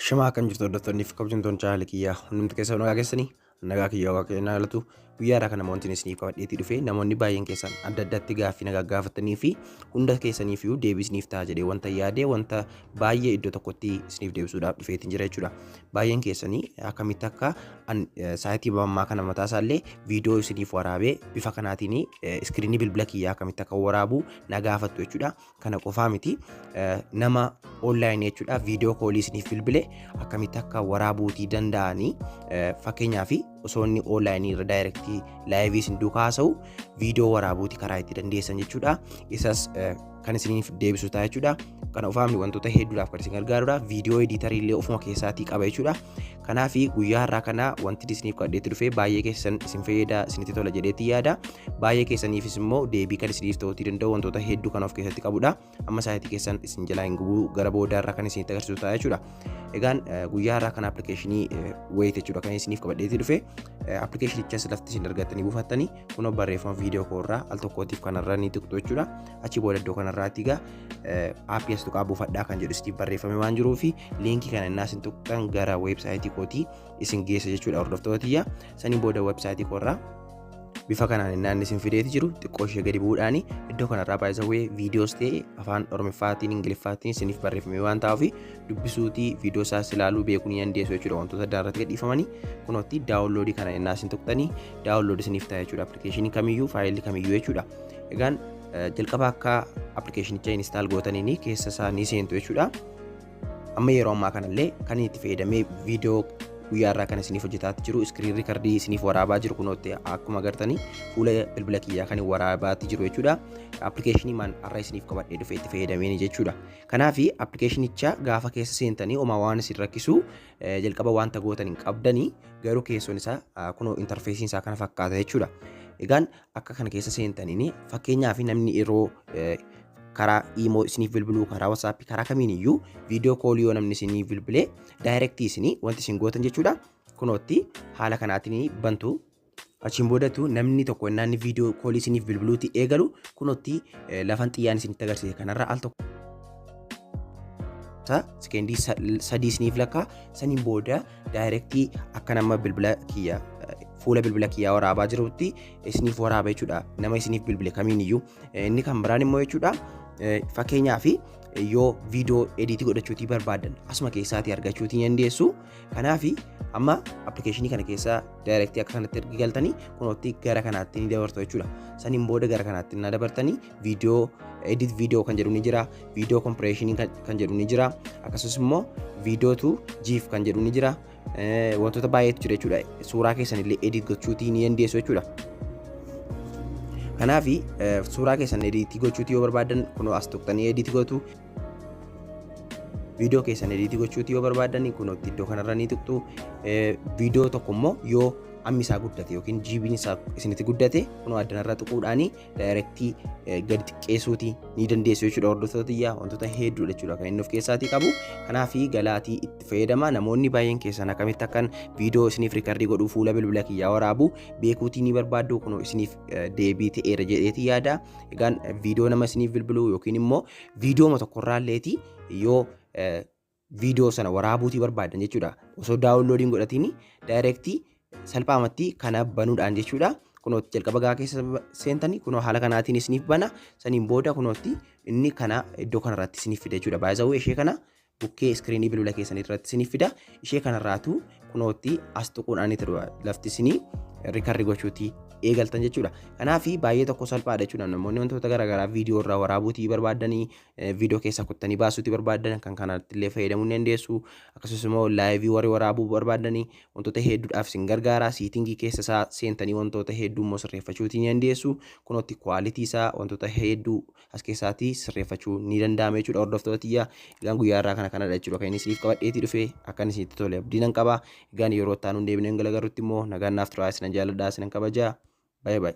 Shimaa kan jirtu hordoftoonni fi kabajamtoonni chaanaalii kiyyaa hundumti keessan nagaa keessanii nagaa kiyyaa waaqa keenyaa galatu guyyaa irraa kana wanti isinii qabadheetii dhufe namoonni baay'een keessan adda addatti gaaffii nagaa gaafatanii fi hunda keessaniif iyyuu deebii isiniif ta'a jedhee wanta yaadee wanta baay'ee iddoo tokkotti isiniif deebisuudhaaf dhufeetiin jira jechuudha. Baay'een keessanii akkamitti akka an saayitii ammaa kana mataa isaallee viidiyoo isiniif waraabee bifa kanaatiin iskiriinii bilbila kiyyaa akkamitti akka waraabu na gaafattu jechuudha. Kana qofaa miti nama onlaayinii jechuudha viidiyoo koolii isiniif bilbile akkamitti akka waraabuutii danda'anii fakkeenyaaf osoo inni onlaayinii irra daayirektii laayivii isin duukaa haasa'u viidiyoo waraabuuti karaa itti dandeessan jechuudha. Isas kan isiniif deebisu ta'a jechuudha. Kana ofaamni wantoota hedduudhaaf kan isin gargaarudha. Viidiyoo ediitarii illee ofuma keessaatii qaba jechuudha. Kanaaf guyyaa har'aa kana wanti isiniif kadheetti dhufee baay'ee keessan isin fayyada isinitti tola jedheetti yaada. Baay'ee keessaniifis immoo deebii kan isiniif ta'uutii danda'u wantoota hedduu kan of keessatti qabudha. Amma sa'aatii keessan isin jalaa hin gubuu gara booda irraa kan isinitti agarsiisu ta'a jechuudha. Egaan guyyaa har'aa kana appilikeeshinii wayit jechuudha kan isiniif qabadheetti dhufe. Appilikeeshinichas lafti isin argattanii buufattanii kunoo barreeffama viidiyoo koorraa al tokkootiif kanarra ni tuqxu jechuudha. Achi booda iddoo kanarraatti egaa APS tuqaa buufadhaa kan jedhu isiniif barreeffame waan jiruu fi liinkii kana innaa isin tuqxan gara weebsaayitii kootii isin geessa jechuudha hordoftoota tiyya saniin booda weebsaayitii koorraa bifa kanaan innaan isin fideeti jiru xiqqoo ishee gadi bu'uudhaan iddoo kanarraa baay'isawwee viidiyoos ta'e afaan oromiffaatiin ingiliffaatiin isiniif barreeffame waan ta'uuf dubbisuutii viidiyoo isaas ilaaluu beekuu ni dandeessu jechuudha wantoota adda irratti gadhiifamanii kunootti daawunloodii kana innaa isin tuqxanii daawunloodii isiniif ta'a jechuudha appilikeeshinii kamiyyuu faayilii kamiyyuu jechuudha egaan Jalqaba akka appilikeeshinicha instaal gootaniin keessa isaa ni seentu jechuudha. Amma yeroo ammaa kanallee kan itti fayyadamee viidiyoo guyyaa irraa kan isiniif hojjetaa jiru iskiriin riikardii isiniif waraabaa jiru kunootti akkuma agartanii fuula bilbila kiyyaa kan waraabaa jiru jechuudha. Appilikeeshinii maan har'a isiniif qabadhee dhufee itti fayyadameen jechuudha. Kanaaf appilikeeshinicha gaafa keessa seentanii homaa waan isin rakkisu jalqaba wanta gootan hin qabdanii garuu keessoon isaa kunoo intarfeesiin isaa kana fakkaata jechuudha. Egaan akka kana keessa seentaniin fakkeenyaaf namni yeroo karaa iimoo isiniif bilbiluu karaa wasaappi karaa kamiin iyyuu viidiyoo koolii yoo namni isiniif bilbilee daayirektii isinii wanti isin gootan jechuudha kunootti haala kanaatiin bantu achiin boodatu namni tokko innaan viidiyoo koolii isiniif bilbiluuti eegalu kunootti lafan xiyyaan isinitti agarsiise kanarra al tokko sekeendii sadii isiniif lakkaa saniin booda daayirektii akka nama bilbila kiyya fuula bilbila kiyyaa waraabaa jirutti isiniif waraaba jechuudha nama isiniif bilbile kamiin iyyuu inni kan biraan immoo jechuudha fakkeenyaa fi yoo viidiyoo ediitii godhachuutii barbaadan asuma keessaatii argachuutii dandeessu kanaaf amma appilikeeshinii kana keessa daayirektii akka kanatti ergi galtanii kunootti gara kanaatti ni dabartu jechuudha saniin booda gara kanaatti na dabartanii viidiyoo edit viidiyoo kan jedhu ni jira viidiyoo kompireeshinii kan jedhu ni jira akkasumas immoo viidiyoo tu jiif kan jedhu ni jira wantoota baay'eetu jira jechuudha suuraa keessan illee edit gochuutii ni dandeessu jechuudha. Kanaaf suuraa keessan edit gochuutii yoo barbaadan kunoo as tuqxanii edit gootu viidiyoo keessan edit gochuutii yoo barbaadan kunoo iddoo kanarra ni tuqxu viidiyoo tokko immoo yoo ammi isaa guddate yookiin jiibiin isaa isinitti guddate kunoo addanarra tuquudhaanii daayirektii gadi xiqqeessuuti ni dandeessu jechuudha hordoftoota tiyyaa wantoota hedduudha jechuudha kan inni of keessaatii qabu kanaaf galaatii itti fayyadama namoonni baay'een keessan akkamitti akkan viidiyoo isiniif riikardii godhuu fuula bilbila kiyyaa waraabu beekuutii ni barbaaddu kunoo isiniif deebii ta'eera jedheeti yaada egaan viidiyoo nama isiniif bilbiluu yookiin immoo viidiyooma tokkorraalleeti yoo video sana waraabuutii barbaadan jechuudha. Osoo download hin godhatiin direct salphaamatti kana banuudhaan jechuudha. Kunootti jalqaba gaa keessa seentanii kunoo haala kanaatiin isiniif bana saniin booda kunootti inni kana iddoo kanarratti isiniif fida jechuudha. Baay'isawuu ishee kana bukkee iskiriinii bilbila keessanii irratti isiniif fida. Ishee kanarraatu kunootti as tuquudhaan itti dhufa. Lafti isinii rikarri gochuuti eegaltan jechuudha. Kanaaf baay'ee tokko salphaadha jechuudha. Namoonni wantoota garaagaraa viidiyoo irraa waraabuutii barbaadanii viidiyoo keessaa kuttanii baasuutti barbaadan kan kanatti illee fayyadamuu ni dandeessu akkasumas immoo laayivii warri waraabuu barbaadanii wantoota hedduudhaaf isin gargaara siitingii keessa isaa seentanii wantoota hedduu immoo sirreeffachuuti ni dandeessu kunootti kwaalitii isaa wantoota hedduu as keessaatii sirreeffachuu ni danda'ama jechuudha hordoftoota tiyya egaan guyyaa irraa kana kanadha jechuudha kan inni isiniif qabadheetii dhufe akka inni isinitti tole abdii nan qaba egaan yeroo itti aanuun deebineen galagarrutti immoo nagaan naaf turaa isinan jaaladhaa isinan kabajaa baay'ee baay'ee